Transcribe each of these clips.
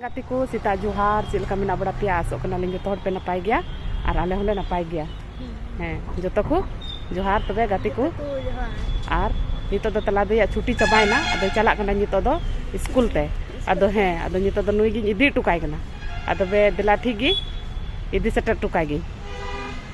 ᱜᱟᱛᱮ ᱠᱚ ᱥᱮᱛᱟᱜ ᱡᱚᱦᱟᱨ ᱪᱮᱫ ᱞᱮᱠᱟ ᱢᱮᱱᱟᱜ ᱵᱟᱲᱟ ᱯᱮᱭᱟ ᱟᱥᱚᱜ ᱠᱟᱱᱟᱞᱤᱧ ᱡᱚᱛᱚ ᱦᱚᱲ ᱯᱮ ᱱᱟᱯᱟᱭ ᱜᱮᱭᱟ ᱟᱨ ᱟᱞᱮ ᱦᱚᱸᱞᱮ ᱱᱟᱯᱟᱭ ᱜᱮᱭᱟ ᱦᱮᱸ ᱡᱚᱛᱚ ᱠᱚ ᱡᱚᱦᱟᱨ ᱛᱚᱵᱮ ᱜᱟᱛᱮ ᱠᱚ ᱟᱨ ᱱᱤᱛᱚᱜ ᱫᱚ ᱛᱟᱞᱟ ᱫᱚᱭᱟᱜ ᱪᱷᱩᱴᱤ ᱪᱟᱵᱟᱭᱮᱱᱟ ᱟᱫᱚ ᱪᱟᱞᱟᱜ ᱠᱟᱱᱟ ᱱᱤᱛᱚᱜ ᱫᱚ ᱥᱠᱩᱞ ᱛᱮ ᱟᱫᱚ ᱦᱮᱸ ᱟᱫᱚ ᱱᱤᱛᱚᱜ ᱫᱚ ᱱᱩᱭ ᱜᱤᱧ ᱤᱫᱤ ᱦᱚᱴᱚ ᱠᱟᱭ ᱠᱟᱱᱟ ᱟᱫᱚ ᱵᱮ ᱫᱮᱞᱟ ᱴᱷᱤᱠ ᱜᱮ ᱤᱫᱤ ᱥᱮᱴᱮᱨ ᱦᱚᱴᱚ ᱠᱟᱭ ᱜᱤᱧ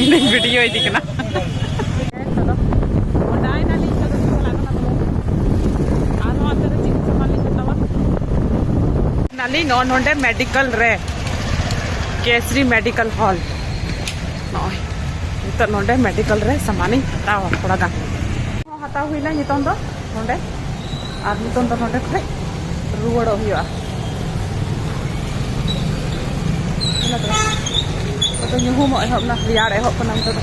ᱤᱧᱫᱚᱧ ᱵᱷᱤᱰᱤᱭᱳ ᱤᱫᱤ ᱠᱟᱱᱟ ᱱᱟᱞᱤᱧ ᱱᱚᱜᱼᱚ ᱱᱚᱰᱮ ᱢᱮᱰᱤᱠᱮᱞ ᱨᱮ ᱠᱮᱥᱨᱤ ᱢᱮᱰᱤᱠᱮᱞ ᱦᱚᱞ ᱱᱚᱜᱼᱚᱭ ᱱᱤᱛᱚᱜ ᱱᱚᱰᱮ ᱢᱮᱰᱤᱠᱮᱞ ᱨᱮ ᱥᱟᱢᱟᱱᱤᱧ ᱦᱟᱛᱟᱣᱟ ᱛᱷᱚᱲᱟ ᱜᱟᱱ ᱦᱟᱛᱟᱣ ᱦᱩᱭᱱᱟ ᱱᱤᱛᱚᱝ ᱫᱚ ᱱᱚᱰᱮ ᱟᱨ ᱱᱤᱛᱚᱝ ᱫᱚ ᱱᱚᱰᱮ ᱠᱷᱚᱡ ᱨᱩᱣᱟᱹᱲᱚᱜ ᱦᱩᱭᱩᱜᱼᱟ ᱟᱫᱚ ᱧᱩᱦᱩᱢᱚᱜ ᱮᱦᱚᱵ ᱮᱱᱟ ᱨᱮᱭᱟᱲ ᱮᱦᱚᱵ ᱠᱟᱱᱟ ᱱᱤᱛᱚᱜ ᱫᱚ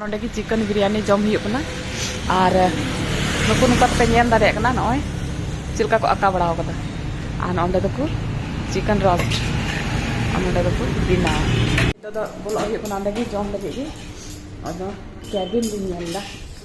ᱱᱚᱰᱮ ᱜᱮ ᱪᱤᱠᱮᱱ ᱵᱤᱨᱭᱟᱱᱤ ᱡᱚᱢ ᱦᱩᱭᱩᱜ ᱠᱟᱱᱟ ᱟᱨ ᱱᱩᱠᱩ ᱱᱚᱝᱠᱟ ᱛᱮᱯᱮ ᱧᱮᱞ ᱫᱟᱲᱮᱭᱟᱜ ᱠᱟᱱᱟ ᱱᱚᱜᱼᱚᱭ ᱪᱮᱫ ᱞᱮᱠᱟ ᱠᱚ ᱟᱸᱠᱟ ᱵᱟᱲᱟ ᱟᱠᱟᱫᱟ ᱟᱨ ᱱᱚᱰᱮ ᱫᱚᱠᱚ ᱪᱤᱠᱮᱱ ᱨᱳᱥᱴ ᱟᱨ ᱱᱚᱰᱮ ᱫᱚᱠᱚ ᱵᱮᱱᱟᱣᱟ ᱱᱤᱛᱚᱜ ᱫᱚ ᱵᱚᱞᱚᱜ ᱦᱩᱭᱩᱜ ᱠᱟᱱᱟ ᱚᱸᱰᱮ ᱜᱮ ᱡᱚᱢ ᱞᱟᱹᱜᱤᱫ ᱜᱮ ᱟᱫᱚ ᱠᱮᱵᱤᱱ ᱞᱤᱧ ᱧᱮᱞ ᱮᱫᱟ